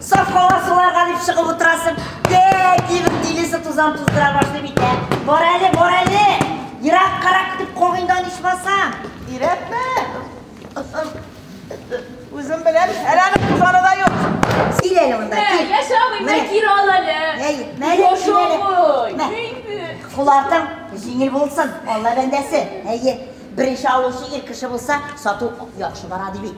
Сафкалар суларга дип чыгып утырасың. Дә, дивер дилесе тузан туздыра башлый бит. Бар әле, бар әле. Ерак карак дип когыйдан ичмасаң. Ирәпме? Үзем белән әләне тузаны да юк. Сил әле монда. Кил. Яшә алмый, мә кир ал әле. Әй, мәле кил әле. Кулартың җиңел булсын, Алла бәндәсе. Әйе, беренче алучы ир кеше булса, сату яхшы бара ди бит.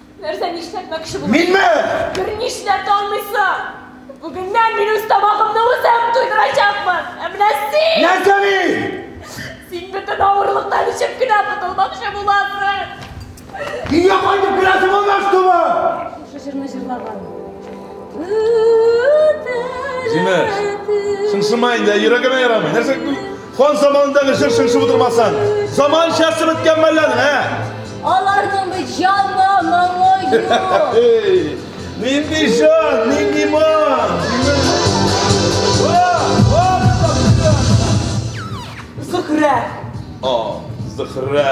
Нәрсә нишләтмәкче буласың? Минме? Бер нишләп тә алмыйсың. Бүгеннән мин үз тамагымны үзем туйдырачакмын. Ә менә син... Нәрсә мин? Син бөтен авырлыктан эчеп кенә котылмакчы буласың. Өйгә кайтып керәсе булмас тумы? Шушы җырны җырлаган. Зинә, шыңшыма инде, йөрәгемә ярамый. Нәрсә Хан заманындагы җыр шыңшып утырмасаң, заманчасы беткән мәллән, ә? Аларның бит җанга моңы юк. Нинди җан, нинди ман. Зөхрә. О, Зөхрә.